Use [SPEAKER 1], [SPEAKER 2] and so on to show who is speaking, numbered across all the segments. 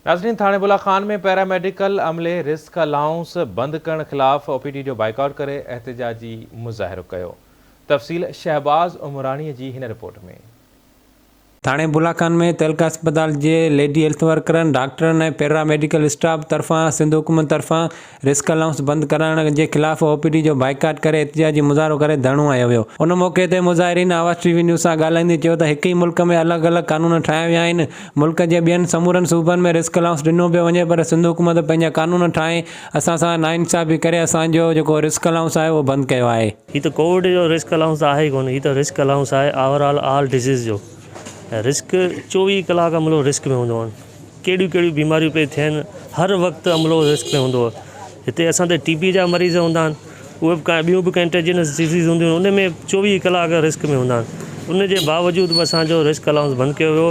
[SPEAKER 1] ناظرين ٿاڻي بلا خان ۾ پيراميڊيڪل عملي risk allowance بند ڪرڻ خلاف او پي ڊي جو بائيڪاٽ ڪري احتجاجي مظاهرو ڪيو تفصيل شهباز عمراڻي جي هن رپورٽ ۾. ٿاڻي
[SPEAKER 2] بلا خان ۾ تعلقه اسپتال جي ليڊي هيلٿ ورڪرن، ڊاڪٽرن ۽ پيرا ميڊيڪل اسٽاف طرفان سنڌ حڪومت طرفان رسڪ الائونس بند ڪرائڻ جي خلاف او پي ڊي جو بائيڪاٽ ڪري احتجاجي مظاهرو ڪري ڌرڻو هنيو ويو. ان موقعي تي مظاهرين آواز ٽي وي نيوز سان ڳالهائيندي چيو ته هڪ ئي ملڪ ۾ الڳ الڳ قانون ٺاهيا ويا آهن، ملڪ جي ٻين سمورن صوبن ۾ رسڪ الائونس ڏنو پيو وڃي پر سنڌ حڪومت پنهنجا قانون ٺاهي اسان سان ناانصافي ڪري اسان جو جيڪو رسڪ الائونس آهي اهو بند ڪيو آهي. هي ته ڪووڊ جو رسڪ
[SPEAKER 3] الائونس ته آهي ئي ڪونه، هي ته رسڪ الائونس آهي آور آل آل ڊزيز جو ۽ رسڪ چوويهه ڪلاڪ ملڪ رسڪ ۾ هوندو آهن. ڪهڙيون ڪهڙيون بيماريون پئي ٿين هر وقت عملو رسڪ ۾ هوندو هتي اسان تي ٽي بي جا مريض هوندا آهن اهي بي ڪانه ٻيون بي ڪنٽيجنس ڊزيز هونديون آهن ان ۾ چوويهه ڪلاڪ رسڪ ۾ هوندا آهن ان جي باوجود به اسان جو رسڪ الاونس بند ڪيو ويو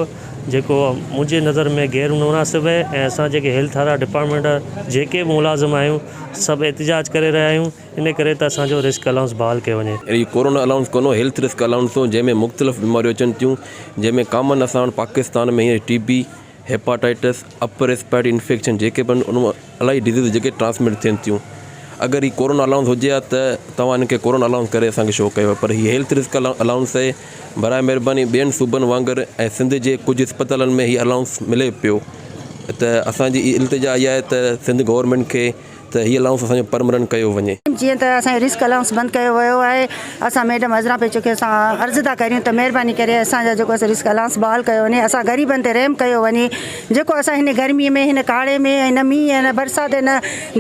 [SPEAKER 3] جيڪو منهنجي نظر ۾ غير مناسب آهي ۽ اسان جيڪي هيلٿ وارا ڊپارٽمينٽ جيڪي به ملازم آهيون سڀ احتجاج ڪري رهيا آهيون انهيء ڪري ته اسان جو رسڪ الائونس بحال ڪيو وڃي. اهو ڪورونا الائونس ڪونهو،
[SPEAKER 4] هيلٿ رسڪ الائونس هو، جنهن ۾ مختلف بيماريون اچن ٿيون، جنهن ۾ ڪامن اسان وٽ پاڪستان ۾ هينئر T B, hepatitis, upper respiratory infection جيڪي به آهن ان مان الائي ڊزيزز جيڪي ٽرانسمٽ ٿين ٿيون. اگر هي ڪورونا الائونس هجي ها ته توهان هن کي ڪورونا الائونس ڪري اسان کي شو ڪيو ها پر هي هيلٿ رسڪ الائونس آهي. براء مهرباني ٻين صوبن وانگر ۽ سنڌ جي ڪجهه اسپتالن ۾ هي الائونس ملي پيو ته اسان جي التجا اها آهي ته سنڌ گورنمينٽ کي ته هي الائونس اسان جو پرمننٽ ڪيو وڃي. جيئن ته اسان جو رسڪ
[SPEAKER 5] الائونس بند ڪيو ويو آهي اسان ميڊم عذرا پيچڪي سان عرض ٿا ڪريون ته مهرباني ڪري اسان جا جيڪو رسڪ الائونس بحال ڪيو وڃي اسان غريبن تي رحم ڪيو وڃي جيڪو اسان هن گرمي ۾ هن ڪاڙهي ۾ هن مينهن هن برسات هن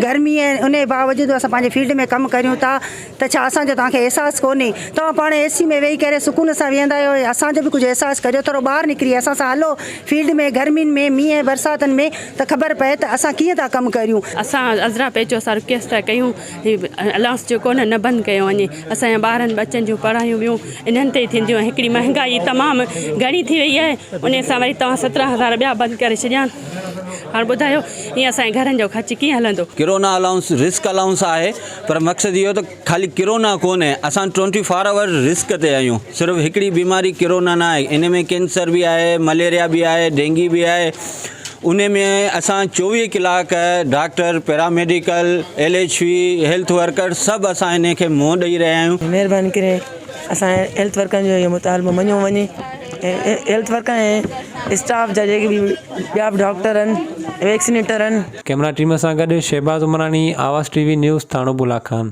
[SPEAKER 5] گرمي انهي باوجود اسان پنهنجي فيلڊ ۾ ڪم ڪريون ٿا ته ڇا اسان جو توهان کي احساس ڪونهي؟ توهان پاڻ اي سي ۾ ويهي ڪهڙي سڪون سان ويهندا آهيو؟ اسان جو به ڪجهه احساس ڪريو، ٿورو ٻاهر نڪري اسان سان هلو فيلڊ ۾ گرمين ۾ مينهن ۽ برساتن ۾ ته خبر پئي ته اسان ڪيئن ٿا ڪم ڪريون. اسان عذرا پيچو
[SPEAKER 6] اسان رڪويسٽ ٿا ڪيون هي الائونس جيڪو نه نه بند ڪيو وڃي اسان جا ٻارن ٻچن جون پڙهايون ٻيون انهن تي ٿينديون ۽ هڪڙي مهنگائي تمام گهڻي ٿي وئي آهي انهي سان وري توهان سترهن هزار ٻيا بند ڪري ڇڏيا آهن هاڻ ٻڌايو ائين اسان جي گهرن جو خرچ ڪيئن هلندو. ڪرونا الائونس رسڪ
[SPEAKER 7] الائونس آهي. پر مقصد اهو ته خالي ڪرونا ڪونهي اسان ٽوئنٽي فور آور رسڪ تي آهيون صرف هڪڙي بيماري ڪرونا نه آهي ان ۾ ڪينسر به آهي مليريا به آهي ڊينگي به آهي ان ۾ اسان چوويهه ڪلاڪ doctor paramedical L H V health worker سڀ اسان ان کي منهن ڏئي رهيا آهيون مهرباني ڪري
[SPEAKER 8] اسان جي هيلٿ ورڪرن جو اهو مطالبو مڃيو وڃي ۽ هيلٿ ورڪر ۽ اسٽاف جا جيڪي به ٻيا به ڊاڪٽر آهن ويڪسينيٽر
[SPEAKER 2] آهن ڪئميرا ٽيم
[SPEAKER 8] سان
[SPEAKER 2] گڏ شهباز عمراڻي، آواز ٽي وي
[SPEAKER 8] نيوز،
[SPEAKER 2] ٿاڻو بولا خان.